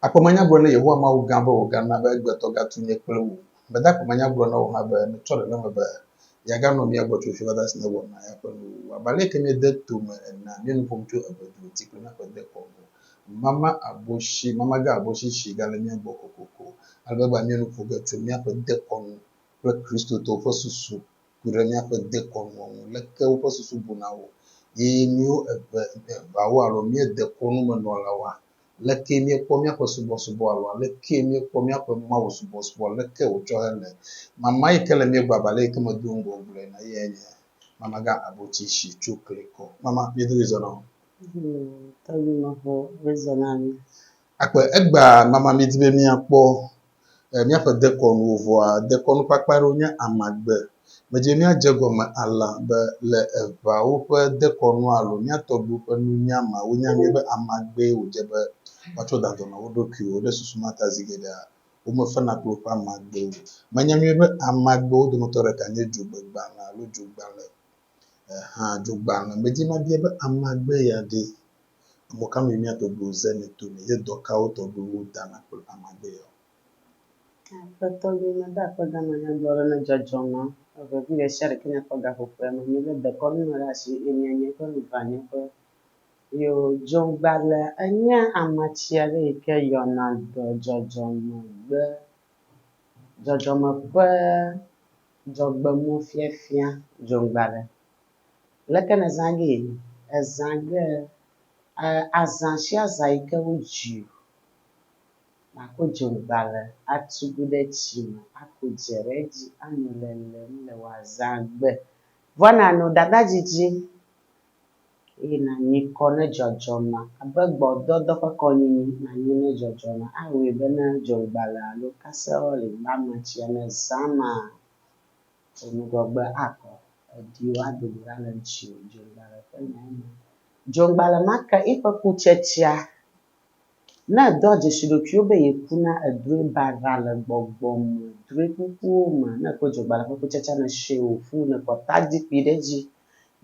Akpɔ manya gblɔ ne Yehowa Mawu gã be wògana be egbetɔ gatu nye kple wò. Meda akpɔ manya gblɔ na wò hã be metsɔ ɖeɖeme be yeaganɔ mía gbɔ tso fifada si nèwɔ na eya ƒe nuwuwu abe aleke míede to me enea, míenu ƒom tso eve dro ti kple míaƒe dekɔnu mama abo si mamaga abo si si gale mía gbɔ kokoko ale be egbea míenu ƒo ge tso míaƒe dekɔnu kple Kristotɔwo ƒe susu ku ɖe míaƒe dekɔnuwo ŋu leke woƒe susu buna wo ye míwo eve eveawo alo míedekɔnumenɔlawoa Aleke míekpɔ míaƒe subɔsubɔ alo aleke míekpɔ míaƒe mawusubɔsubɔ? Aleke wòtsɔ hele? Mama yi ke le mía gbɔ abe ale yi ke medo ŋgɔ wogblɔe ene eyae nye Mamagã Abotsi si tso Klikɔ. Mama, miedo ɣli zɔna o. Tɔgbi Mafo, ɣli zɔna mi. Akpe egbea, Mama, míedi be míakpɔ míaƒe dekɔnuwo vɔa, dekɔnu kpakpa aɖewo nye amagbe. Medze míadze gɔme alã be le eŋawo ƒe dekɔnu alo mía tɔgbuiwo ƒe nunya me wonya mí be amagbee wòdze be woatsɔ da dɔ na wo ɖokuiwo. Ɖe susu ma ta zi geɖea womefena kple woƒe amagbewo o. Menya mí be amagbewo dometɔ ɖeka nye dzogbegbalẽ alo dzogbalẽ. hã dzogbalẽ me dzi mabia be amagbe ya ɖe emɔ ka me mía tɔgbuiwo ze le to me ye dɔ kawo tɔgbuiwo dana kple amagbe ya o. Ke tɔgbi mede akpe gama na dɔ aɖe ne dzɔdzɔ nɔ evevi ɖesiaɖeke nye kpɔ gaƒoƒoea me mi le dekɔnu me ɖe asi ye mia nye ƒe mi va nye ƒe yo dzogbalẽ enye amatsi aɖe yi ke yɔna dɔ dzɔdzɔ megbe Dzɔdzɔme ƒe dzɔgbenufiafia dzoŋgbaɖe. Leke nèzã gee? Èzã ge azã sia zã yi ke wodzi wò nàko dzoŋgbaɖe atu gu ɖe tsi me aku dze ɖe edzi anɔ lelem le wò azãgbe. Vɔa nàno ɖaɖa didi. eye nànyi kɔ ne dzɔdzɔna abe gbɔdɔdɔ ƒe kɔnyinyi nànyi ne dzɔdzɔna awɔe be ne dzogbalẽ alo kaseroli gbame tsia ne zã ma ƒo ŋgɔgbe akɔ ediwo adogo ɖa le ŋutiwò. Dzogbalẽ ƒe nyae nye, Dzogbalẽ ma ke eƒe kutsetsea Ne èdɔa dzesi ɖokuiwò be yeku na èdroe baɖa le gbɔgbɔ me, drɔe ƒuƒuwo me, ne èkpɔ dzogbalẽ ƒe kutsatsa ne etsɔe wòƒu, ne èkpɔ tadzikpui ɖe edzi,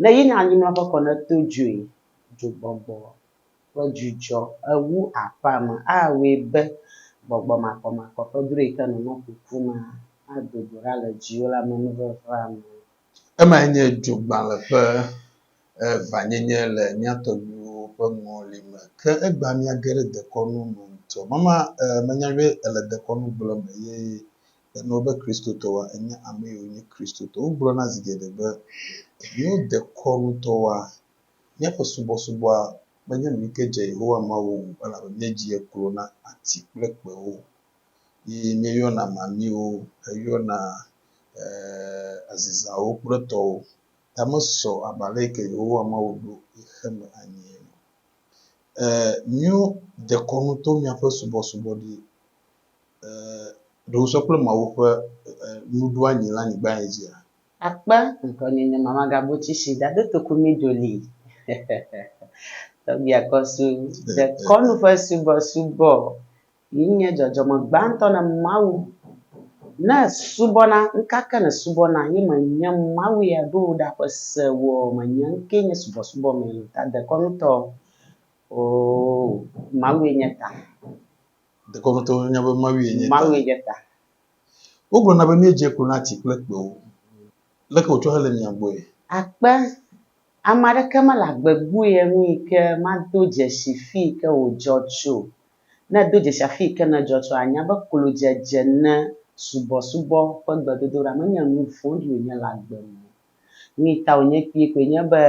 ne yi ne anyimlɔ ƒe kɔ ne eto dzoe, dzogbɔgbɔ ƒe dzudzɔ ewu aƒea me awɔe be gbɔgbɔ makɔmakɔ ƒe drɔe yi ke nɔnɔ ƒuƒu ma ado go ɖa le dziwò le amenuvevea me. Emae nye dzogbalẽ ƒe evanyenye le mía tɔgbuiwo ƒe ŋɔli me. Ke egbea míage ɖe dekɔnu me ŋutɔ. Mama e menya be èle dekɔnu gblɔ me ye ènɔ be Kristotɔwoa, ènye amee wònye Kristotɔ. Wogblɔna zi geɖe be míewo dekɔnutɔwoa, míaƒe subɔsubɔa menye nu yi ke dze Yehowa Mawu ŋu o elabe míedzi ye klo na ati kple kpewo. yi míeyɔna mamiwo heyɔna azizawo kple etɔwo ta mesɔ abe ale yi ke Yehowa Mawu ɖo xe me anyi ene. Míewo dekɔnu to míaƒe subɔsubɔɖi ɖowosɔ kple Mawu ƒe nuɖoanyi le anyigba ya dzia? Akpe ŋkɔnyenye Mama Gabuchishi dado toku mí doli. Tɔgbi akɔsu dekɔnu ƒe subɔsubɔ Yi nye dzɔdzɔme gbãtɔ ne Mawu. Ne subɔna, ŋkake ne subɔna ye me nye Mawu ya ɖo ɖa ƒe se wɔ me nye ŋke nye subɔsubɔ me le ta dekɔnu tɔ oo Mawu ye nye ta. Dekɔnu tɔ nye be Mawu ye nye ta. Mawu ye nye ta. Wo gblɔ na be mie dze klo na ti kple kpewo. Leke wotsɔ hele mia gbɔe? Akpe, ame aɖeke mele agbe gbue ŋui ke mado dzesi fii ke wo dzɔ tso Ne èdo dzesi afi yi ke nèdzɔ tsoa, ànya be klodzedze ne subɔsubɔ ƒe gbedodoɖa menye nu vɔ̃ɖi wònye le agbe me o. Nui ta wònye kpuie koe nye be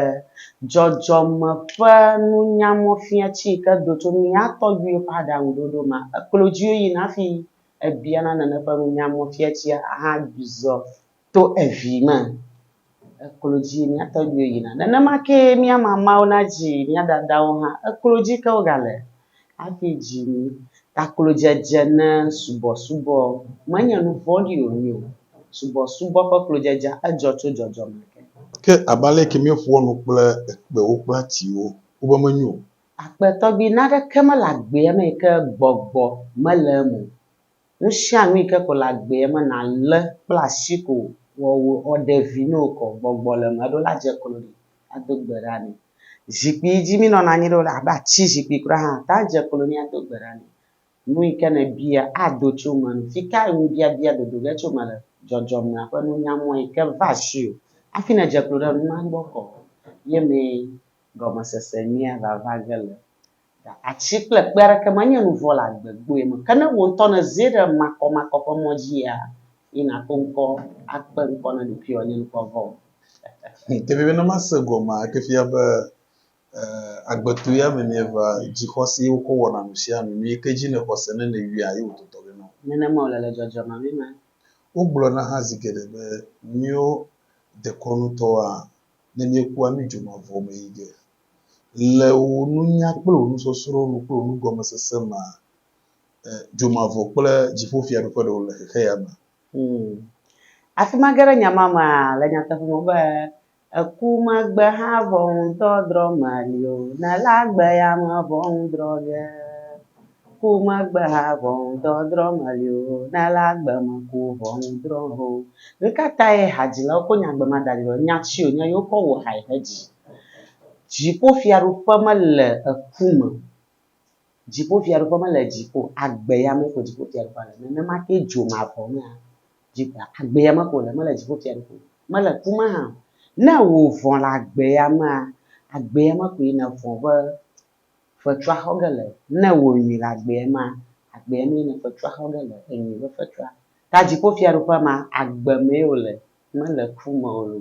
dzɔdzɔme ƒe nunyamɔfiati yi ke do tso mía tɔgbuiwo ƒe aɖaŋuɖoɖo ma, eklo dzi yina hafi ebiana nane ƒe nunyamɔfiatia hã zɔ to evi me. Eklo dzi mía tɔgbuiwo yina. Nenema kee mía mamawo nadzi mía dadawo hã. Eklo dzi ke wogale hafi dzi mí. Taklodzedze ne subɔsubɔ menye nu vɔ̃ɖi o nyo. Subɔsubɔ ƒe klodzedzea, edzɔ tso dzɔdzɔme ke. Ke abe aleke míeƒoa nu kple ekpewo kple atiwo ko be menyo o? Akpe tɔgbi naneke mele agbea me yi ke gbɔgbɔ mele eme o. Nusianu yike ko le agbea me nalé kple asi ko wɔ wò ɔɖevi ne wokɔ gbɔgbɔ le eme eɖo la dze klo ɖi ado gbe ɖa nɛ. Zikpui yi dzi mi nɔna anyi ɖo la abe ati zikpui kura hã ate ŋu adze klo nɛ ado gbe ɖa nɛ. Nu yike ne bia ado tso eme nɔ. Fikae nubiabia dodo ge tso eme le? Dzɔdzɔmea ƒe nunya mɔ yike va asiwò hafi nedze klo ɖe numa gbɔ kɔ ye mee gɔmesese nyuia vava ge le. Ɖe ati kple kpe aɖeke menye nu vɔ̃ le agbe gbɔe me, ke ne wò ŋutɔ nèzi ɖe makɔmakɔ ƒe mɔ dzia, yi nàto ŋkɔ akpe ŋkɔ na ɖokuiwò anye nukpɔ vɔ o. Ke vevie ne mase gɔmea, eke fia be agbetɔe ya me mieva, dzixɔsee wokɔ wɔna nu sia nu. Nu yi ke dzi nèxɔ se ne nèyɔa, ye wòtotɔ ge na wò. Nenema wòle le dzɔdzɔme vi me. Wogblɔna hã zi geɖe be, Míwo dekɔnutɔwoa, ne míekua, mídzona vɔ̃ me yi ge. Le wò nunya kple wò nusɔsrɔ̃ nu kple wò nugɔmesese mea, dzomavɔ kple dziƒofiaɖuƒe ɖewo le xexe ya mea? Hmm. Afi ma ge ɖe nya ma mea, le nyateƒe me be, eku megbe hã ʋɔnudɔdrɔ̃ meli o, ne le agbe ya me ʋɔnudrɔ̃ ge. Ku megbe hã ʋɔnudɔdrɔ̃ meli o, ne le agbe me ku ʋɔnudrɔ̃ ge o. Nu ka tae hadzilawo ko nya gbemadzadzrawo, nya tsi wònye ye wokɔ wɔ hae hedzi? Dziƒofiaɖuƒe mele eku me o. Dziƒofiaɖuƒe mele dziƒo o. Agbe ya mee ko dziƒofiaɖuƒea le. Nenema kee dzomavɔ mea, agbe ya me ko wòle, mele dziƒofiaɖuƒe o, mele ku me hã o. Ne wò vɔ̃ le agbe ya mea, agbe ya me koe nèvɔ̃ be fetru axɔ ge le. Ne wò nyui le agbe ya mea, agbe ya mee ne fetru axɔ ge le, enyui be fetru. Ta dziƒofiaɖuƒe ma, agbe mee wòle. Mele ku me o lo.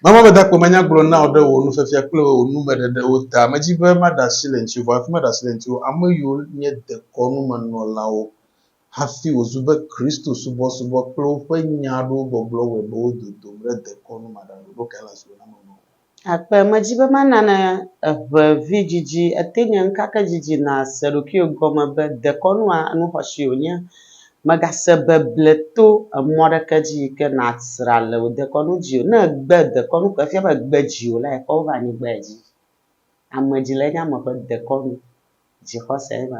Mama be dakpo manya gblɔ na wò ɖe wò nufiafia kple wò numeɖeɖewo ta. Medzi be maɖe asi le ŋutiwò, hafi maɖe asi le ŋutiwò. Ame yiwo nye dekɔnumenɔlawo hafi wòzu be Kristo subɔsubɔ kple woƒe nya aɖewo gbɔgblɔ wɔe be wo dodom ɖe dekɔnu maɖanuɖoɖo kae le asi wò na menɔ o. Akpe, Medi be mana ne eŋe vidzidzi ete nye ŋkakedzidzi nàse ɖokuiwò gɔme be dekɔnua nuxɔsie wònye. Mègase beble to emɔ aɖeke dzi yi ke nàsra le wò dekɔnu dzi o. Ne ègbe dekɔnu ko efia be ègbe dziwò la, èkɔ wova anyigbae dzi. Amedzile nye ame ƒe dekɔnu. Dzixɔsee ma.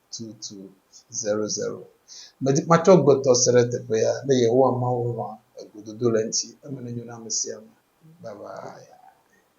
tutu zero zero. Medi matsɔ agbetɔ se ɖe teƒea ne Yehowa Mawu lɔ̃a egododo le eŋuti. Eme nenyo na ame sia ame. Bye bye.